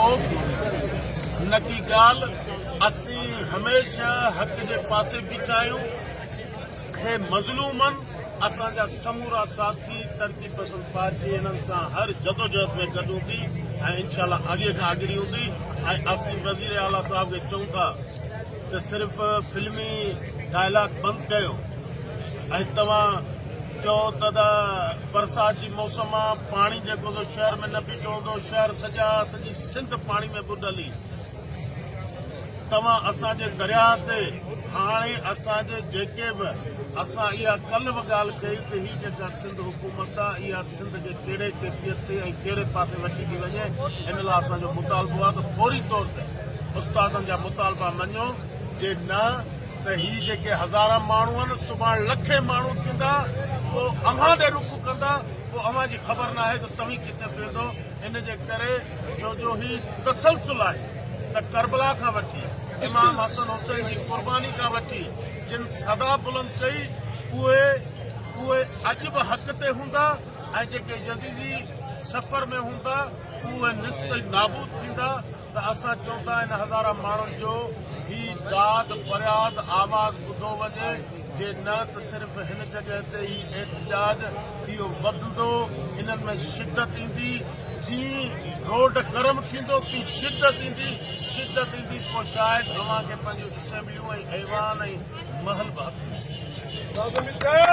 خوف نڪي ڳالهه اسين هميشه حق جي پاسي بيٺا آهيون هي مظلومن اسان جا سمورا ساٿي ترقي پسند پارٽي انهن سان هر جدوجهد ۾ گڏ هوندي ۽ انشاء الله اڳي کان اڳري هوندي ۽ اسين وزير اعليٰ صاحب کي چئون ٿا ته صرف فلمي ڊائلاگ بند ڪيو ۽ توهان چئو ته دا برسات جي موسم آ پاڻي جيڪو سو شهر ۾ نه بيٺو هوندو شهر سڄا سڄي سنڌ پاڻي ۾ ٻڏل ئي توهان اسان جي درياهه تي هاڻي اسان جي جيڪي به اسان اها ڪل به ڳالهه ڪئي ته هي جيڪا سنڌ حڪومت آ اها سنڌ کي ڪهڙي ڪيفيت تي ۽ ڪهڙي پاسي وٺي ٿي وڃي ان لاء اسان جو مطالبو آهي ته فوري طور تي استادن جا مطالبا مڃو جي نه ته هي جيڪي هزاران ماڻهو آهن سڀاڻ لکين ماڻهو ٿيندا پوء اوهان ڏي رخ ڪندا پوء اوهان جي خبر ناهي ته توهين ڪٿي بيهندو ان جي ڪري ڇو جو هي تسلسل آهي ته ڪربلا کان وٺي امام حسن حسين جي قرباني کان وٺي جن صدا بلند ڪئي اهي اهي اڄ به حق تي هوندا ۽ جيڪي يزيدي سفر ۾ هوندا اهي نست نابود ٿيندا ته اسان چون ٿا ان هزارن ماڻهن جو هي داد فرياد آواز ٻڌو وڃي جي نه ته صرف هن جڳهه تي هي احتجاج اهو وڌندو انهن ۾ شدت ايندي جيئن روڊ گرم ٿيندو تيئن شدت ايندي شدت ايندي پوء شايد اوهان کي پنهنجون اسيمبليون ۽ ايوان ۽ محل به هٿ ۾